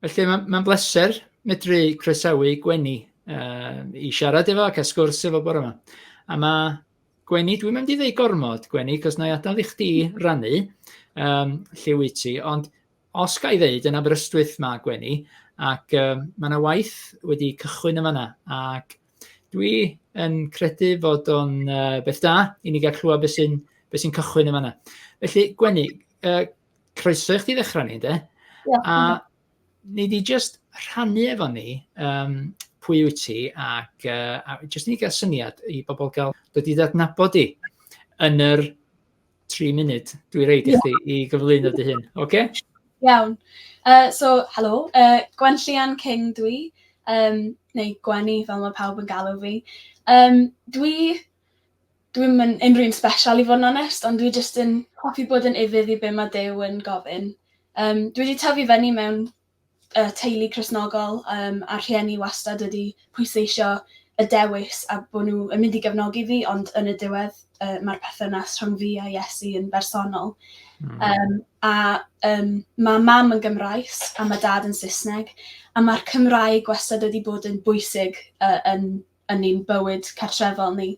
Felly mae'n ma bleser medru croesawu Gwenny uh, i siarad efo ac a sgwrs efo bore yma. A mae Gwenny, dwi'n mynd i ddweud gormod, Gwenny, cos na i adael i chdi rannu um, lle wyt ti, ond os ga i ddeud yn Aberystwyth mae Gwenny, ac um, mae yna waith wedi cychwyn yma yna, ac Dwi yn credu fod o'n uh, beth da i ni gael clywed beth sy'n be sy cychwyn yn fanna. Felly, Gwenny, uh, croeso i chdi ddechrau ni, de? Yeah. A ni di just rhannu efo ni um, pwy wyt ti ac uh, a just ni gael syniad i bobl gael dod i ddadnabod i yn yr tri munud, dwi reid i chdi i gyflwyno dy hun, oce? Okay? Iawn. Uh, so, helo, uh, Gwen Llian King dwi, um, neu Gwenny fel mae pawb yn galw fi. Um, dwi, dwi'n mynd unrhyw un special i fod yn onest, ond dwi jyst yn hoffi bod yn ifydd i be mae Dew yn gofyn. Um, dwi wedi tyfu fyny mewn y teulu Cristnogol um, a'r rhieni wastad wedi pwysleisio y dewis a bod nhw yn mynd i gefnogi fi, ond yn y diwedd uh, mae'r perthynas rhwng fi a Iesu yn bersonol. Mm. Um, a um, mae mam yn Gymraes a mae dad yn Saesneg, a mae'r Cymraeg wastad wedi bod yn bwysig uh, yn, yn ein bywyd cartrefol ni.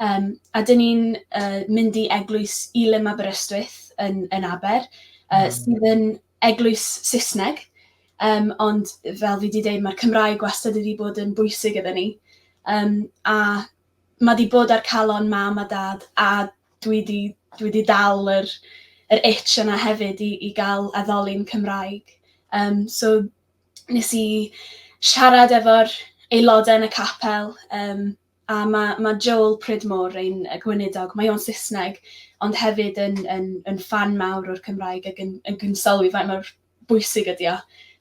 Um, a dyn ni'n uh, mynd i eglwys Ilim Aberystwyth yn, yn Aber, uh, mm. sydd yn eglwys Saesneg, um, ond fel fi wedi dweud, mae'r Cymraeg wastad wedi bod yn bwysig gyda ni. Um, a mae wedi bod ar calon mam a dad, a dwi wedi, dwi wedi dal yr, yr itch yna hefyd i, i gael addoli'n Cymraeg. Um, so nes i siarad efo'r aelodau yn y capel, um, A ma' ma' Joel Pridmore, ein gweinidog, mae o'n Saesneg, ond hefyd yn yn yn ffan mawr o'r Cymraeg ac yn yn gwnsylwi faint mor bwysig ydi o.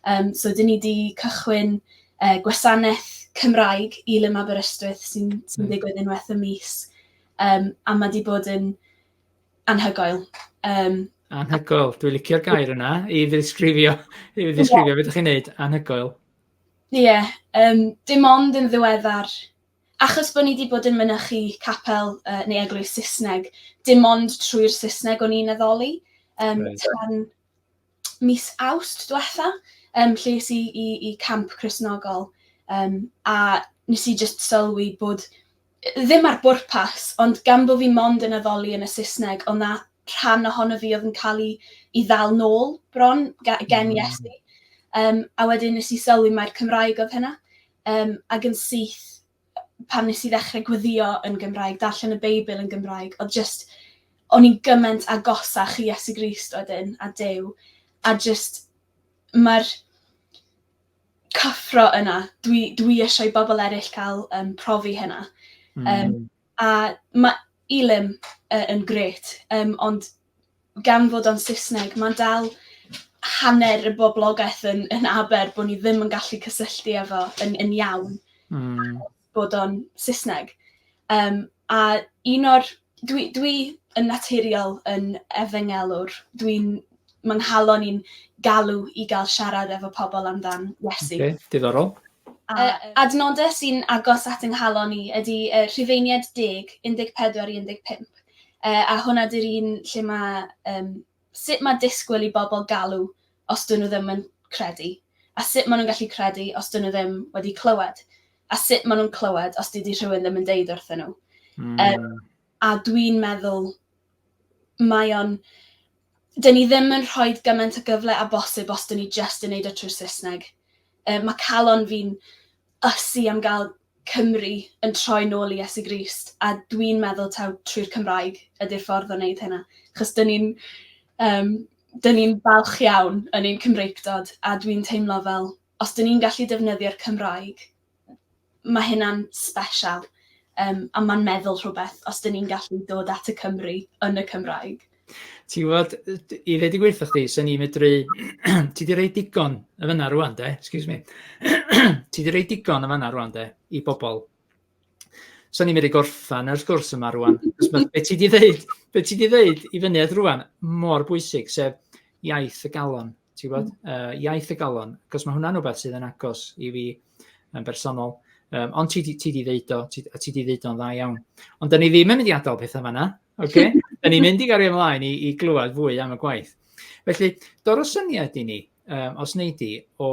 Yym so 'dyn ni 'di cychwyn yy gwasaneth Cymraeg i Lym Aberystwyth sy'n sy'n digwydd unwaith y mis yym a ma' 'di bod yn anhygoel yym. Anhygoel dwi licio'r gair yna i ddisgrifio i ddisgrifio be' 'dych chi'n neud anhygoel. Ie, yym, dim ond yn ddiweddar, achos bod ni wedi bod yn mynychu capel uh, neu eglwys Saesneg, dim ond trwy'r Saesneg o'n i'n addoli. Um, right. Tan mis awst diwetha, um, lle i, i, i camp Cresnogol, um, a nes i just sylwi bod Ddim ar bwrpas, ond gan bo' fi mond yn addoli yn y Saesneg, o'dd 'na rhan ohono fi o'dd yn ca'l 'i 'i ddal nôl bron ga- gen Iesu. Yym a wedyn nes i sylwi mai'r Cymraeg o'dd hynna. Yym ag yn syth pan nes i ddechre gweddïo yn Gymraeg, darllen y Beibl yn Gymraeg, o'dd jyst o'n i'n gyment agosach i Iesu Grist wedyn a Duw a jyst ma'r cyffro yna, dwi, dwi eisiau i bobl eraill cael um, profi hynna. Mm. Um, a mae Elim uh, yn gret, um, ond gan fod o'n Saesneg, mae'n dal hanner y boblogaeth yn, yn aber bod ni ddim yn gallu cysylltu efo yn, yn iawn. Mm. bod o'n Saesneg yym a un o'r... Dwi dwi yn naturiol yn efengelwr dwi'n... Mae 'nghalon i'n galw i gael siarad efo pobl amdan Iesu. Oce diddorol. A yy adnodau sy'n agos at 'nghalon i ydy yy Rhufeiniaid deg, 14 i 15 yy a hwnna 'di'r un lle ma' yym Sut mae disgwyl i bobl galw os dyn nhw ddim yn credu? A sut maen nhw'n gallu credu os dyn nhw ddim wedi clywed? A sut maen nhw'n clywed os dydy rhywun ddim yn deud wrthyn nhw? Mm. Um, a dwi'n meddwl mae o'n... Dyn ni ddim yn rhoi gymaint o gyfle a bosib os dyn ni just yn neud o trwy Saesneg. Um, mae calon fi'n ysu am gael Cymru yn troi nôl i Iesu Grist a dwi'n meddwl taw trwy'r Cymraeg ydy'r ffordd o wneud hynna achos dyn ni'n um, dyn ni'n falch iawn yn ein Cymreictod a dwi'n teimlo fel os dyn ni'n gallu defnyddio'r Cymraeg mae hynna'n special um, a mae'n meddwl rhywbeth os dyn ni'n gallu dod at y Cymru yn y Cymraeg. Ti'n gwybod, i ddweud y gweithio chdi, sy'n ni'n medru, ti di rei digon y fyna rwan de, excuse me, ti di rei digon y fyna rwan de, i bobl. Sy'n ni'n medru gorffan yr gwrs yma rwan, be ti di ddeud, be ti di ddeud i fyny at rwan, mor bwysig, sef iaith y galon, ti'n gwybod, uh, iaith y galon, cos mae hwnna'n rhywbeth sydd yn agos i fi yn bersonol. Um, ond ti, ti di ddeud o, ti, ti di ddeud o'n dda iawn. Ond da ni ddim yn mynd i adael pethau fanna, Oce, da ni'n mynd i gario ymlaen i, i glywed fwy am y gwaith. Felly, dor o syniad i ni, um, os nei di, o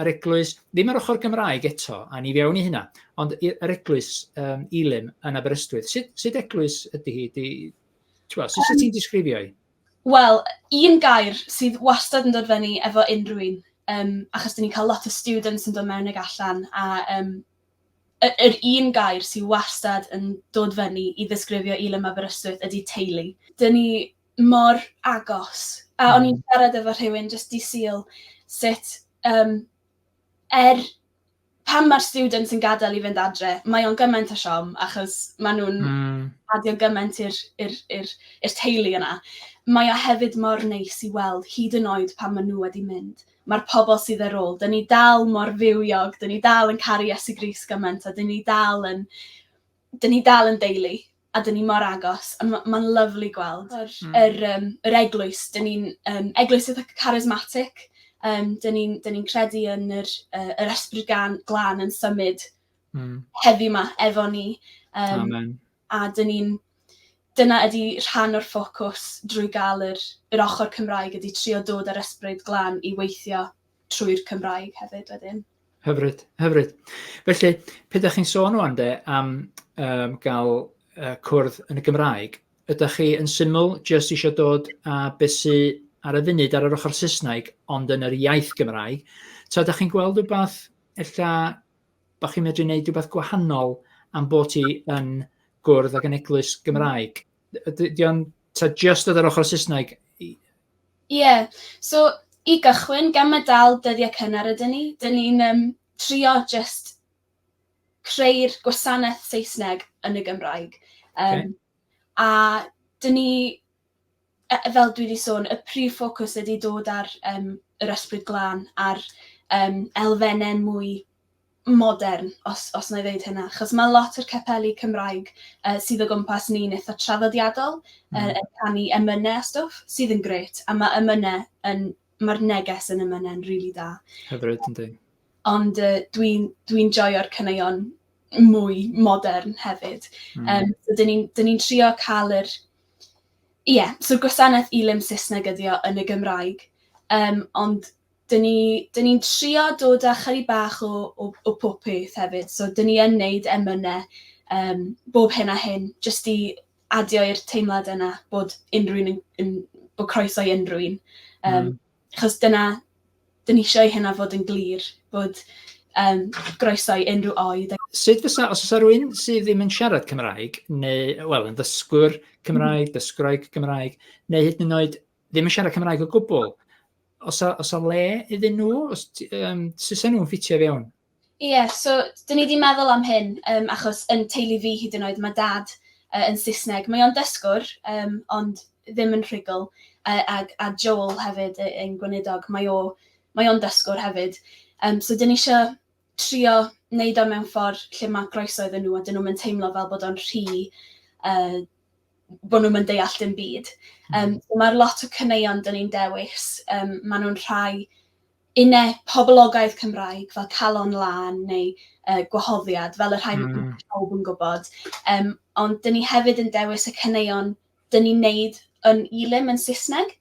yr eglwys, ddim yr ochr Gymraeg eto, a ni fewn i hynna, ond yr eglwys um, Elim yn Aberystwyth. Sut, sut eglwys ydy hi? Di, twa, sut um, ti'n disgrifio hi? Wel, un gair sydd wastad yn dod fyny efo unrhyw un, um, achos dyn ni'n cael lot o students yn dod mewn ag allan, a um, y- yr un gair sy wastad yn dod fyny i ddisgrifio Elin Mab Aberystwyth ydi teulu. Dyn ni mor agos. A o'n i'n hmm. siarad efo rhywun jyst di syl sut um, er pan mae'r students yn gadael i fynd adre, mae o'n gymaint o siom achos maen nhw'n mm. adio gymaint i'r teulu yna. Mae o hefyd mor neis i weld hyd yn oed pan maen nhw wedi mynd. ma'r pobl sydd ar ôl. 'Dyn ni dal mor fywiog, 'dyn ni dal yn caru Iesu Grist gymaint a 'dyn ni dal yn 'dyn ni dal yn deulu a 'dyn ni mor agos a ma' ma'n lyfli gweld yr hmm. yr yym yr eglwys. 'Dyn ni'n yym eglwys eitha charismatic. Yym 'dyn ni'n 'dyn ni'n credu yn yr yy yr ysbryd gan glân yn symud hmm. heddiw 'ma efo ni. Yym. Amen. a dyn ni'n... dyna ydi rhan o'r ffocws drwy gael yr yr ochr Cymraeg ydi trio dod â'r ysbryd glân i weithio trwy'r Cymraeg hefyd wedyn. Hyfryd, hyfryd. Felly, pe da chi'n sôn o'n de am um, gael uh, cwrdd yn y Gymraeg, ydych chi yn syml jyst eisiau dod a besu ar y funud ar yr ochr Saesneg ond yn yr iaith Gymraeg, ta ydych chi'n gweld rhywbeth ella bod chi'n medru gwneud rhywbeth gwahanol am bod ti yn gwrdd ag yn eglwys Gymraeg. Ydy o'n ta just oedd yr ochr Saesneg? Ie, yeah. so i gychwyn, gan mae dal dyddiau cynnar ydyn ni, dyn ni'n um, trio just creu'r gwasanaeth Saesneg yn y Gymraeg. Um, okay. A dyn ni yy fel dwi 'di sôn y prif ffocws ydi dod ar yym yr ysbryd glân a'r yym elfenne mwy modern os os na'i ddeud hynna achos ma' lot o'r capeli Cymraeg yy sydd o gwmpas ni'n itha traddodiadol yy yn canu emyne a stwff sydd yn grêt a ma' emyne yn ma'r neges yn emyne'n rili da. Hyfryd yndi. Ond yy dwi'n dwi'n joio'r caneuon mwy modern hefyd. Hmm. Yym so 'dyn ni'n 'dyn ni'n trio ca'l yr Ie so gwasanaeth i Lym Saesneg ydi o yn y Gymraeg yym ond 'dyn ni 'dyn ni'n trio dod â chydig bach o o o pob peth hefyd so 'dyn ni yn neud emyne yym bob hyn a hyn jyst i adio i'r teimlad yna bod unrywun yn yn bo' croeso i unrywun yym... Hmm. achos dyna, dyn ni eisiau i hynna fod yn glir, bod um, groeso i unrhyw oed. Sut fysa, os oes rhywun sydd ddim yn siarad Cymraeg, neu, wel, yn ddysgwr Cymraeg, mm. dysgwraig Cymraeg, neu hyd yn oed ddim yn siarad Cymraeg o gwbl, os a, os a le iddyn nhw, os um, sy'n nhw'n ffitio fewn? Ie, so dyn ni 'di meddwl am hyn yym achos yn teulu fi hyd yn oed mae dad yy yn Saesneg. Mae o'n dysgwr yym ond ddim yn rhugl a a a Joel hefyd yy ein gweinidog mae o mae o'n dysgwr hefyd. Yym so dyn ni isio trio wneud o mewn ffordd lle mae groeso iddyn nhw a dyn nhw'm yn teimlo fel bod o'n rhy yy bod nhw'm yn deall dim byd. Yym so ma'r lot o caneuon dyn ni'n dewis yym maen nhw'n rhai Yn ne poblogaidd Cymraeg fel calon lân neu yy gwahoddiad fel y rhai ma' Hmm. pawb yn gwbod yym ond 'dyn ni hefyd yn dewis y caneuon 'dyn ni'n neud yn Elim yn Saesneg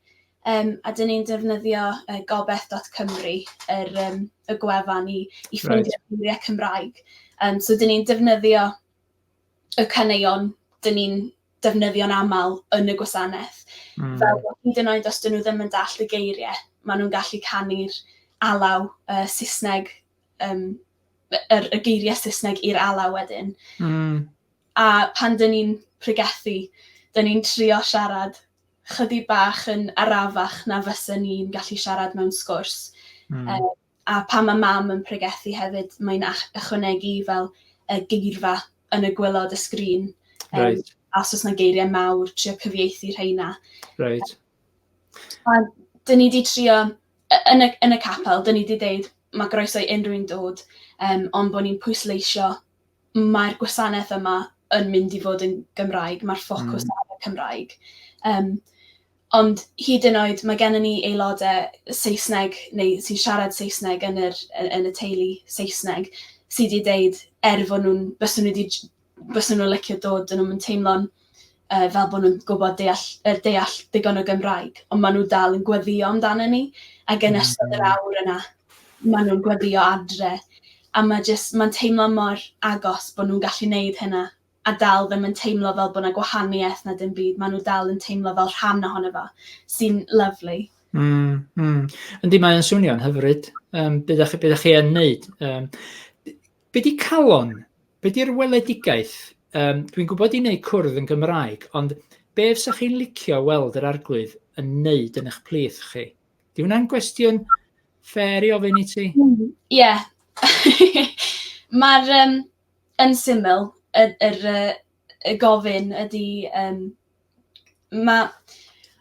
yym a 'dyn ni'n defnyddio yy gobeth dot Cymru yr yym y gwefan i i Reit. ffeindio geiriau Cymraeg yym so 'dyn ni'n defnyddio y caneuon 'dyn ni'n defnyddio'n aml yn y gwasanaeth. Mm. Fel hyd yn oed os dyn nhw ddim yn dall y geiriau, maen nhw'n gallu canu'r alaw uh, Saesneg, um, yr, y geiriau Saesneg i'r alaw wedyn. Mm. A pan dyn ni'n pregethu, dyn ni'n trio siarad chydig bach yn arafach na fysa ni'n gallu siarad mewn sgwrs. Mm. Um, A phan mae mam yn pregethu hefyd, mae'n ach- ychwanegu fel y geirfa yn y gwylod y sgrin. Um, right. A os oes yna geiriau mawr, trio cyfieithu rheina. Right. A dyn ni wedi trio, yn y, yn y capel, dyn ni wedi dweud mae groeso i unrhyw un dod, um, ond bod ni'n pwysleisio mae'r gwasanaeth yma yn mynd i fod yn Gymraeg, mae'r ffocws mm. ar y Cymraeg. Um, Ond hyd yn oed mae gennym ni aelodau Saesneg neu sy'n siarad Saesneg yn yr yy yn y teulu Saesneg sy 'di deud er fod nhw'n bysen nhw 'di j- bysen nhw'n licio dod 'dyn nhw'm yn teimlo'n yy fel bo' nhw'n gwbod deall yy deall digon o Gymraeg on' ma' nw dal yn gweddïo amdanyn ni ag yn ystod yr awr yna ma' nw'n gweddïo adre a ma' jyst ma'n teimlo mor agos bo' nw'n gallu neud hynna. a dal ddim yn teimlo fel bod 'na gwahaniaeth na dim byd, ma' nhw dal yn teimlo fel rhan ohono fo, sy'n lyfli. Mm, mm. Yndi, mae'n swnio'n hyfryd. Um, bydda, chi, bydda chi yn neud. Um, be di calon? Be di'r weledigaeth? Um, Dwi'n gwybod i wneud cwrdd yn Gymraeg, ond be fysa chi'n licio weld yr arglwydd yn neud yn eich plith chi? Di hwnna'n gwestiwn fer i ofyn i ti? Ie. Mae'r um, yn syml y yr yy y gofyn ydi yym ma'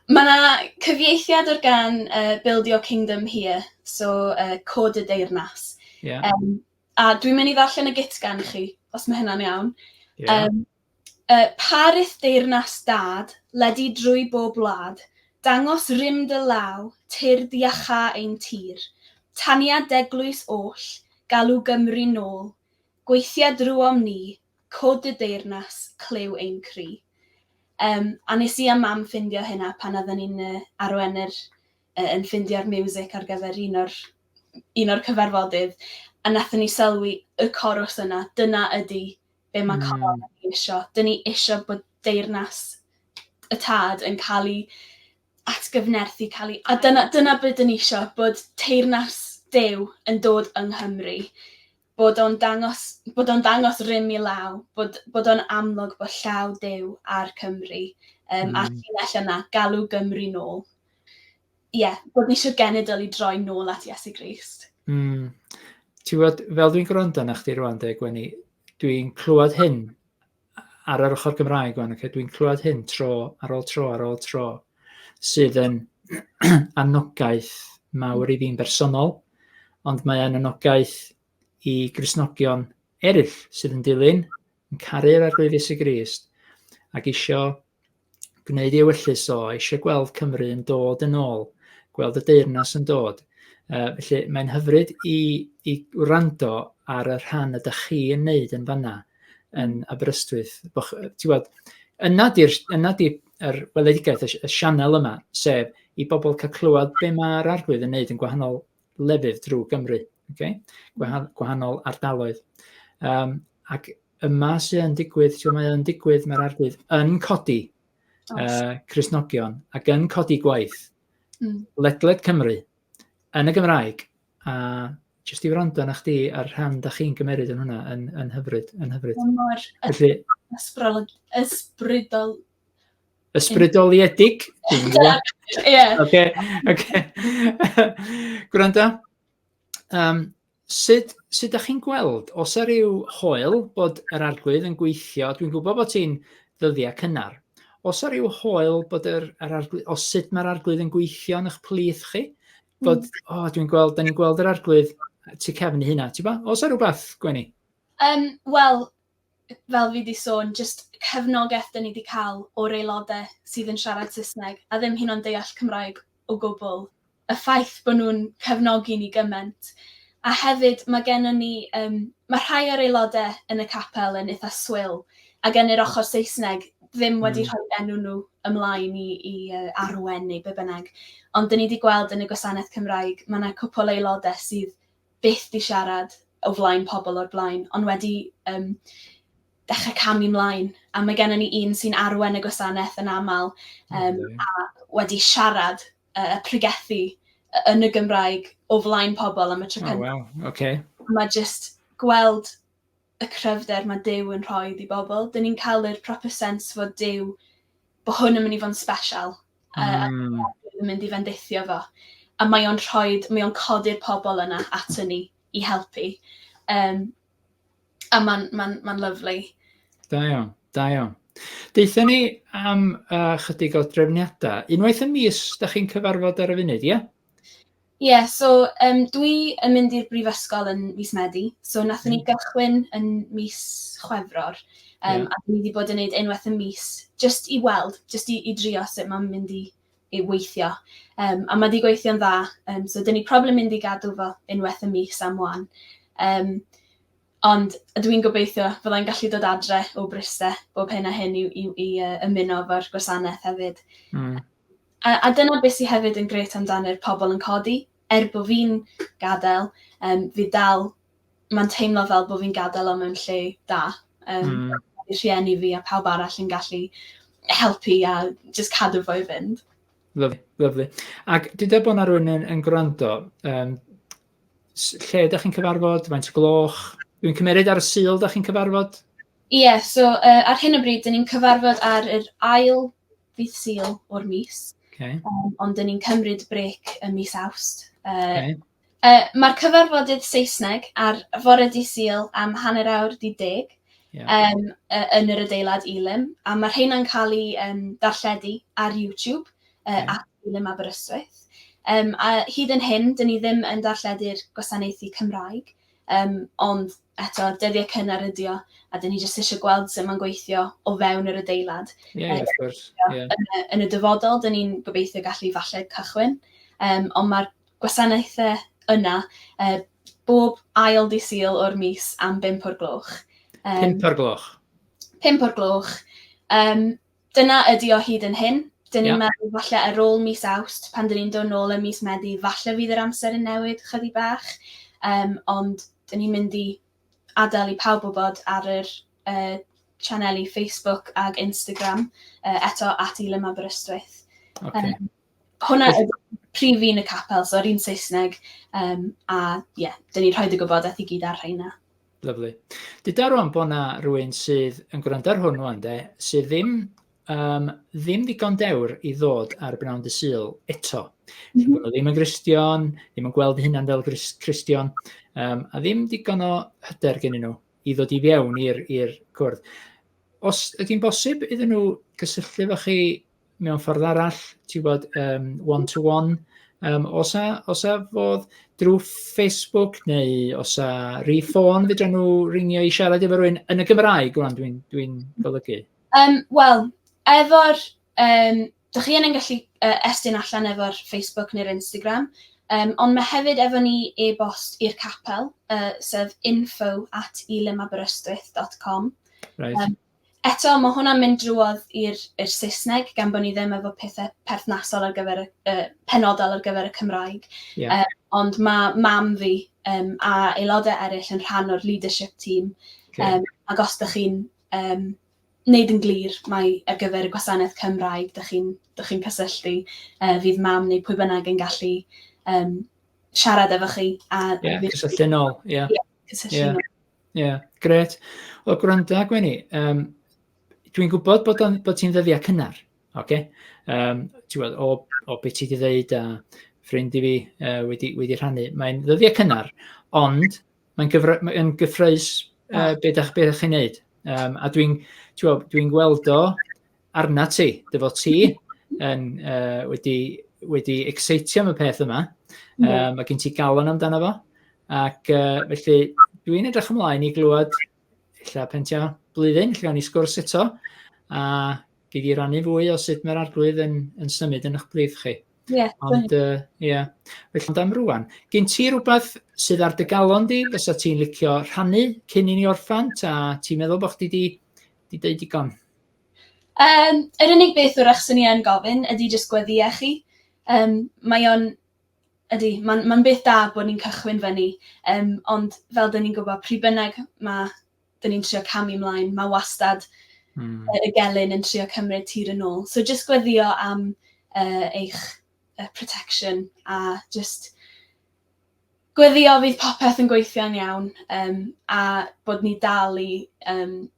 ma' 'na cyfieithiad o'r gân yy Build Your Kingdom Here so yy Cod y Deyrnas. Ie. Yym a dwi'n mynd i ddarllen y gyt gan chi os ma' hynna'n iawn. Ie. Yym yy pa rith deyrnas dad, ledi drwy bob wlad, dangos rym dy law, tyrd iacháu ein tir, taniad d'eglwys oll, galw Gymru nôl, Gweithia drwom ni, cwd y deyrnas, clyw ein cri. Yym a nes i a mam ffindio hynna pan odden ni'n yy arwen yr yy yn ffindio'r miwsic ar gyfer un o'r un o'r cyfarfodydd a nathon ni sylwi y corws yna, dyna ydi be ma' Coron wedi isio, 'dyn ni isio bod deyrnas y tad yn ca'l 'i atgyfnerthu cael ei... A dyna, dyna be dyn ni isio, bod teyrnas Duw yn dod yng Nghymru, bod o'n dangos, bod o'n dangos rym i law, bod, bod o'n amlwg bod llaw Duw ar Cymru, um, mm. a'r llinell yna, galw Gymru nôl. Ie, yeah, bod ni eisiau genedl i droi nôl at Iesu Grist. Mm. Ti'n gwybod, fel dwi'n gwrando na chdi rwan, deg Gwenny, dwi'n clywed hyn ar yr ochr Gymraeg o'n, okay, dwi'n clywed hyn tro ar ôl tro ar ôl tro, sydd yn anogaeth mawr i fi'n bersonol, ond mae'n anogaeth i grisnogion eraill sydd yn dilyn, yn caru'r arglwyddi sy'n Grist, ac eisiau gwneud ei ewyllys o, eisiau gweld Cymru yn dod yn ôl, gweld y deyrnas yn dod. Uh, felly mae'n hyfryd i, i wrando ar y rhan y da chi yn neud yn fanna yn Aberystwyth. Ti'n gweld, yna di'r yna di er weledigaeth y, y sianel yma, sef i bobl cael clywed be mae'r arglwydd yn neud yn gwahanol lefydd drwy Gymru, okay? Gwahan gwahanol ardaloedd. Um, ac yma sy'n yn digwydd, ti'n mae yn digwydd, mae'r arglwydd yn codi uh, Cresnogion ac yn codi gwaith mm. ledled Cymru yn y Gymraeg. A jyst i wrando na chdi a'r rhan da chi'n gymeryd yn hwnna yn, yn hyfryd, yn hyfryd. Mor ysbrydol, ysbrydol, Ysbrydoliedig? Ie. Oce, oce. Gwrando, um, sut, sut da chi'n gweld, os ar ryw hoel bod yr arglwydd yn gweithio, dwi'n gwybod bod ti'n ddyddiau cynnar, os ar ryw hoel bod yr, yr arglwydd, os sut mae'r arglwydd yn gweithio yn eich plith chi, bod, mm. o, oh, dwi'n gweld, da ni'n gweld yr arglwydd tu cefn hynna, ti'n ba? Os ar rhywbeth, Gwenny? Um, Wel, fel fi 'di sôn, jyst cefnogaeth 'dyn ni 'di cael o'r aelodau sydd yn siarad Saesneg a ddim hyn o'n deall Cymraeg o gwbl, y ffaith bod nhw'n cefnogi ni gymaint. A hefyd mae gennym ni... Um, mae rhai o'r aelodau yn y capel yn eitha swil ac yn yr ochr Saesneg ddim hmm. wedi mm. rhoi enw nhw ymlaen i, i uh, arwen neu be bynnag. Ond dyn ni wedi gweld yn y gwasanaeth Cymraeg, mae yna cwpl aelodau sydd byth 'di siarad o flaen pobl o'r blaen, ond wedi um, dechrau camu mlaen. A mae gennym ni un sy'n arwen y gwasanaeth yn aml um, okay. a wedi siarad uh, pregethu yn y Gymraeg o flaen pobl am y tro oh, wow. okay. Mae jyst gweld y cryfder mae Duw yn rhoi i bobl. Dyn ni'n cael yr proper sense fod Duw, bod hwn yn mynd i fod yn special. Mm. A, a yn mynd i fendithio fo. A mae o'n rhoi, mae o'n codi'r pobl yna ato ni i helpu. Um, a mae'n ma ma lyflu. Da iawn, da iawn. Deitha ni am uh, chydig o drefniadau. Unwaith y mis, da chi'n cyfarfod ar y funud, ie? Yeah? Ie, yeah, so um, dwi yn mynd i'r brifysgol yn mis Medi, so nath ni hmm. gychwyn yn mis Chwefror, um, yeah. a ni wedi bod yn gwneud unwaith y mis, just i weld, just i, i drio sut mae'n mynd i, i weithio. Um, a mae wedi gweithio'n dda, um, so dyn ni problem mynd i gadw fo unwaith y mis am wan. Um, Ond dwi'n gobeithio fyddai'n gallu dod adre o Bryste bob hyn a hyn i, i, i uh, ymuno efo'r gwasanaeth hefyd. Mm. A, a dyna beth sy hefyd yn grêt amdano'r pobl yn codi, er bod fi'n gadael, um, fi dal, mae'n teimlo fel bod fi'n gadael o mewn lle da. Um, mm. Mae rhieni fi a pawb arall yn gallu helpu a just cadw fo i fynd. Lyflu, lyflu. Ac dyda bod yna rhywun yn, yn gwrando, um, lle ydych chi'n cyfarfod, faint o gloch? Dwi'n cymeryd ar y syl ydych chi'n cyfarfod? Ie, yeah, so uh, ar hyn o bryd, dyn ni'n cyfarfod ar yr ail ddydd Sul o'r mis. Okay. Um, ond dyn ni'n cymryd brec y mis Awst. Uh, okay. uh, Mae'r cyfarfodydd Saesneg ar fore di Sul am hanner awr di deg yeah. um, uh, yn yr adeilad Elim, a mae rheina'n cael ei um, darlledu ar YouTube uh, okay. at Elim Aberystwyth. Um, a hyd yn hyn, dyn ni ddim yn darlledu'r gwasanaethu Cymraeg, Yym, ond eto, dyddiau cynnar ydi o, a dyn ni jyst eisiau gweld sut mae'n gweithio o fewn yr adeilad. Ie, yeah, of course. Yeah. Yn, y, yn y dyfodol, dyn ni'n gobeithio gallu falle cychwyn, um, ond mae'r gwasanaethau yna uh, bob ail di syl o'r mis am 5 o'r gloch. Um, 5 o'r gloch? 5 o'r gloch. Um, Dyna ydi o hyd yn hyn. Dyn ni'n meddwl falle ar ôl mis Awst, pan dyn ni'n dod nôl ym mis Medi, falle fydd yr amser yn newid chydig bach, um, ond dyn ni'n mynd i adael i pawb wybod ar yr uh, sianeli Facebook ac Instagram, uh, eto at Ilym Aberystwyth. Okay. Um, Hwnna yw prif un y capel, so yr un Saesneg, um, a ie, yeah, dyn ni'n rhoi dy gwybodaeth i gyd ar rheina. Lyflu. Dyda rwan bod na rhywun sydd yn gwrando ar hwn rwan de, sydd ddim, um, ddim ddigon dewr i ddod ar bnawn dy syl eto. Mm -hmm. Ddim yn gristion, ddim yn gweld hynna'n fel gristion, um, a ddim digon o hyder gen nhw i ddod i fiewn i'r cwrdd. Os ydy'n bosib iddyn nhw gysylltu efo chi mewn ffordd arall, ti'n gwybod, um, one-to-one. Um, os, a, os a fodd drwy Facebook neu os a rhi ffôn, fydra nhw ringio i siarad efo rhywun yn y Gymraeg, rwan dwi'n dwi, golygu. Um, Wel, efo'r... Um, da chi yn gallu uh, estyn allan efo'r Facebook neu'r Instagram, um, ond mae hefyd efo ni e-bost i'r capel, uh, sef info at ilemaberystwyth.com. Right. Um, Eto, mae hwnna'n mynd drwodd i'r i'r Saesneg, gan bod ni ddim efo pethau perthnasol ar gyfer y, uh, penodol ar gyfer y Cymraeg. Yeah. Uh, ond mae mam fi um, a aelodau eraill yn rhan o'r leadership team. Okay. Um, ac os ydych chi'n um, wneud yn glir mae ar gyfer y gwasanaeth Cymraeg, ydych chi'n chi cysylltu, uh, fydd mam neu pwy bynnag yn gallu um, siarad efo chi. A yeah, cysylltu'n ôl, ie. Yeah. Yeah, cysylltu'n yeah. ôl. Ie, grêt. Wel gwranda Gwenny, yym dwi'n gwybod bod o'n bod ti'n ddyddiau cynnar, ocê? Yym ti'n gwbod o o be' ti 'di ddeud a ffrind i fi yy wedi wedi rhannu, mae'n ddyddiau cynnar, ond mae'n gyfra- mae yn gyffrous yy be' 'dach be' 'dach chi'n neud. Yym a dwi'n ti'n gwbod dwi'n gweld o Arna ti, dy fod ti yn, uh, wedi, wedi exeitio am y peth yma, mm. um, mae gen ti galon amdano fo, ac uh, felly dwi'n edrych ymlaen i glywed lle pentio blwyddyn, lle o'n i sgwrs eto, a gei di rannu fwy o sut mae'r arglwydd yn, yn symud yn eich brif chi. Yeah, Ond, ie. Uh, yeah. Felly, ond am rwan, gen ti rhywbeth sydd ar dy galon di, fysa ti'n licio rhannu cyn i ni orffan, ta ti'n meddwl bod chdi di, di deud digon? Yym yr unig beth 'w'rach swn i yn gofyn ydi jyst gweddïa chi yym mae o'n ydi ma'n ma'n beth da bod ni'n cychwyn fyny yym ond fel 'dyn ni'n gwbo pryd bynnag ma' 'dyn ni'n trio camu mlaen ma' wastad Hmm. yy y gelyn yn trio cymryd tir yn ôl. So jyst gweddïo am yy eich yy protection a jyst gweddïo fydd popeth yn gweithio'n iawn yym a bod ni dal i yym